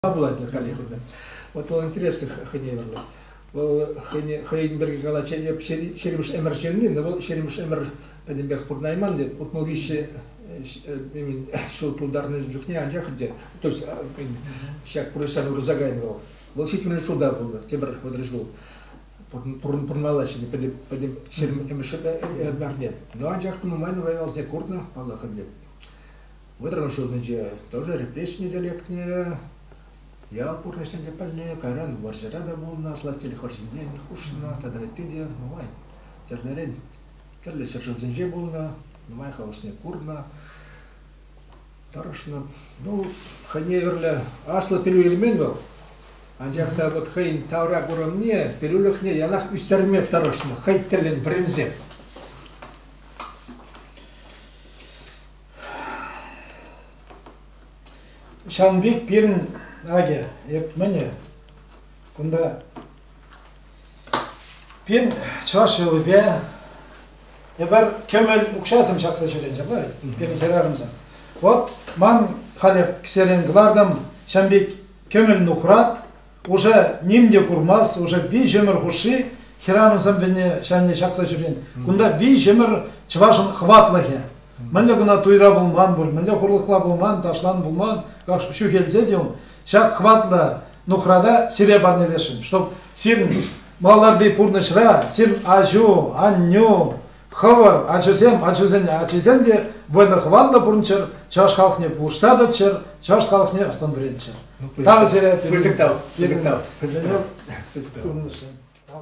пулать халӗ хӑйне. Вот вӑл интересный хӑйне вилнӗ. Вӑл хӑйӗн пирки калать, Шеремш Эмер ҫырни, но вӑл Шеремш Эмер пӗтӗмпех пурнайман тет. Утмал виҫе ҫул пултарнӑ чухне анчах те, то есть ҫак пурнӑҫран урса кайнӑ вӑл. Вӑл ҫитмӗл ҫулта пулнӑ, тепӗр вӑтӑр ҫул пурӑнмалла ҫӗнӗ пӗтӗм Шеремш Эмерне. Но анчах та нумай-нумай валсе курнӑ, паллах ӗнтӗ. Вӑтӑрмӗш ҫулсенче тоже репрессине те лекнӗ. Ял пурнӑҫне те пӗлнӗ. Кайран вӑрҫӑра та пулнӑ, сластель вӑрҫинчен хушнӑ тата ытти те нумай тӗрлӗрен тӗрлӗ ҫӗршывсенче пулнӑ, нумай халӑхсене курнӑ, тӑрӑшнӑ. Ну, хӑйне вӗрлӗ аслӑ пӗлӳ илмен вӑл. Анчах та вот хӑйӗн тавра курӑмне, пӗлӳлӗхне ялах ӳстерме тӑрӑшнӑ, хӑй тӗллӗн вӗренсе. Ҫавӑн пек пирӗн акӗ, эп мӗнӗ кунта. Пирӗн чӑваш йӑлипе эпир кӗмӗл укҫасем ҫакса ҫӳренӗ ҫапла пирӗн хӗрарӑмсем. Вот ман халӗ кӗсерен кӑлартӑм ҫавӑн пек кӗмӗл нухрат, Пушӑ ним те курмасть, уже виҫӗмӗр хушши хӗрарӑмсем вӗне ҫанне ҫакса ҫӳрен. Кунта виҫӗмӗр чӑвашӑн хӑватлӑхӗ. Мӗнле кӑна туйра пулман пуль, мӗнле хурлӑхла пулман, ташлан пулман, ҫӳхелсе те ун ҫак хӑватлӑ нухрата сире парнелесшӗн, чтоб сирӗн маларри пурнӑҫра сир аҫу, аннӳ, Хӑвӑр, ачусем, ачусен ачисем те вӑйлӑ-хӑватлӑ пурӑнччӑр, чӑваш халӑхне пулӑшса тӑччӑр, чӑваш халӑхне ӑс-тӑн вӗрентчӗр. Ну, Тав сире. Пысӑк тав, пысӑк тав, пысӑк тав, пысӑк тав.